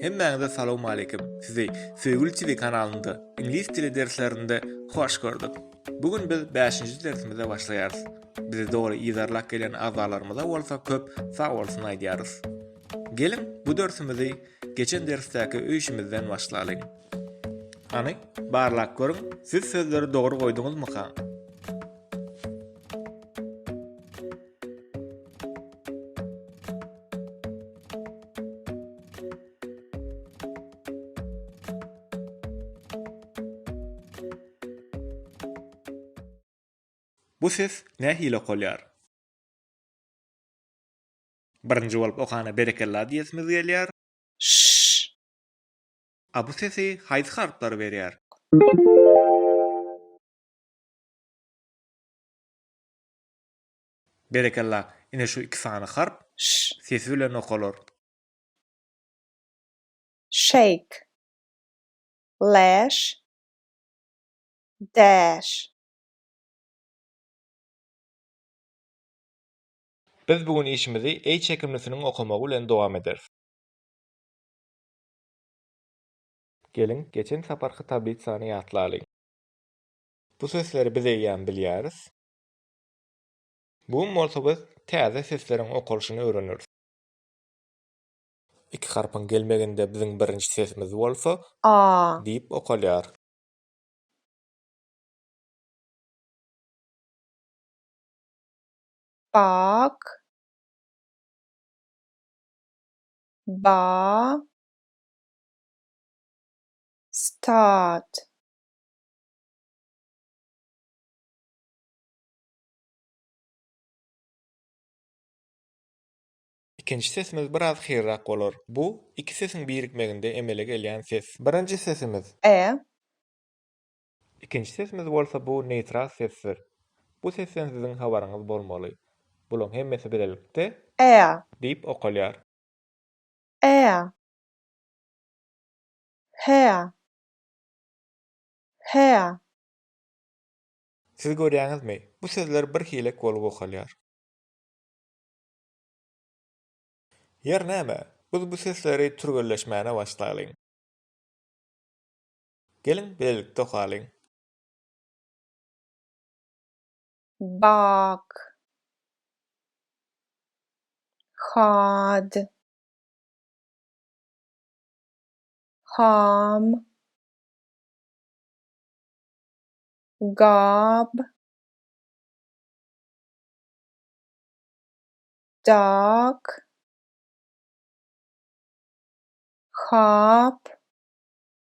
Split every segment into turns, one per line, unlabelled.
Hemmäňize salawmaleýkim. Sizi Söýgüli TV kanalynda iňlis dili derslerinde hoş gördük. Bu gün biz bäşinji dersimize başlaýarys. Bizi doly yzarlap gelen agzalarymyza bolsa köp sagbolsun aýdýarys. Geliň, bu dörsümizi geçen dersdäki öýşimizden başlalyň. Hany, barlap görüň, siz sözleri dogry goýduňyzmyka? Bu ses nähili okalýar? Birinji bolup okana berekella diýesimiz gelýär. Şşşş. A bu sesi haýsy harplar berýär? Berekella. Ine şu iki sany harp ş sesi bilen okalar. Shake. Lash. Dash. Biz bu gün işimizi E çekimlisiniň okamagy bilen dowam ederis. Geliň, geçen saparky tablitsany ýatlalyň. Bu sözleri biz eýýäm bilýäris. Bu gün bolsa biz täze sesleriň okalyşyny öwreneris. Iki harpyň gelmeginde biziň birinji sesimiz bolsa A. Diýip okalýar. Bag Ba Stad Ikinji sesimiz biraz hyrrak bolar. Bu, iki sesiň birikmeginde emele gelýän ses. Birinji sesimiz. E, Ikinji sesimiz bolsa bu neýtral sesdir. Bu sesden siziň habaryňyz bolmaly. Bulaň hemmesi bilelikde. Ä. Diýip okalýar. Ä. Hä. Hä. Siz görýäňizmi, bu sözler bir hilek bolup okalýar. Ýeri näme, biz bu sesleri türgenleşmäne başlalyň. Geliň, bilelikde okalyň. Bag. Had. Ham. Gab. Dag. Hap.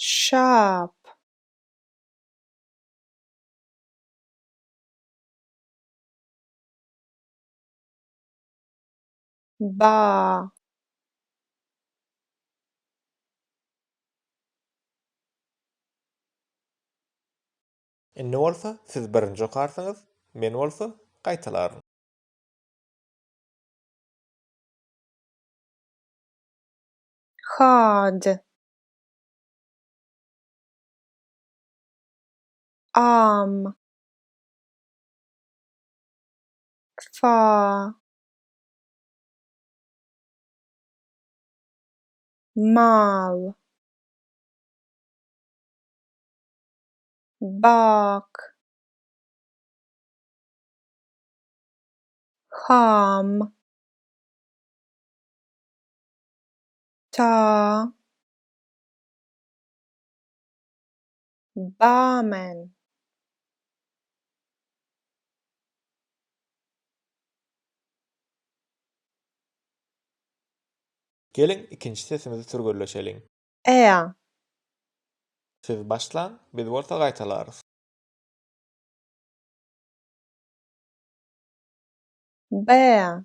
Şap. Ba. Indi bolsa siz birinji okarsyňyz, men bolsa gaýtalaryn. Hajy. Am. Fa. Mal. Bak. Ham. Ta Barman Geliň, ikinji sesimizi türgenleşeliň. Ä. Siz başlaň, biz bolsa gaýtalarys. Bä.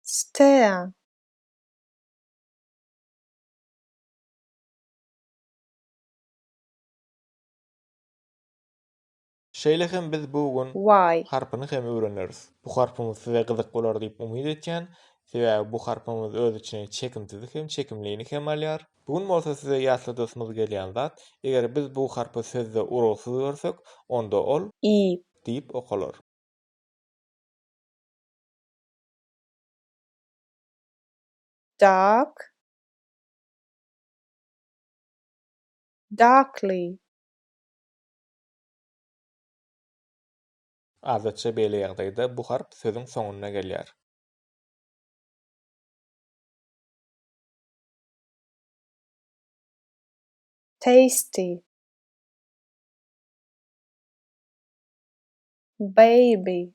Stea. Şeýle hem biz bu gün Y. harpyny hem öwreneris. Bu harpymyz size gyzyk bolar diýip umyt etýän, sebäbi bu harpymyz öz içine çekimsizi hem çekimlini hem alýar. Bu gün bolsa size ýatladasymyz gelýän zat, eger biz bu harpy sözde urugsyz görsek, onda ol. Y. Diýip okalar. Dark Darkly. Adatça beýle ýagdaýda bu harp sözüň soňunda gelýär. Tasty Baby.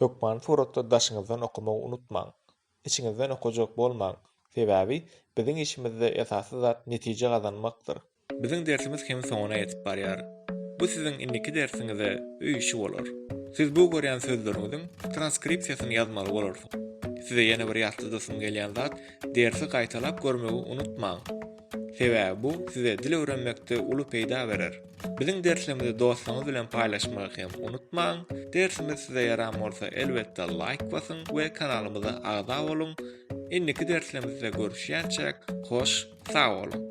Hökmany suratda daşyňyzdan okamagy unutmaň. Içiňizden okajak bolmaň, sebäbi biziň işimizde esasy zat netije gazanmakdyr. Biziň dersimiz hem soňuna ýetip barýar. Bu siziň indiki dersiňize öý işi bolar. Siz bu görýän sözleriňiziň transkripsiýasyny ýazmaly bolarsyň. Size ýene bir ýatladasym gelýän zat dersi gaýtalap görmegi unutmaň. Sebäbi bu size dil öwrenmekde uly peýda berer. Biziň derslerimizi dostlaryňyz bilen paýlaşmagy hem unutmaň. Dersimiz size ýaran bolsa, elbetde laýk basyň we kanalymyza agza boluň. Indiki derslerimizde görüşýänçäk, hoş, sag boluň.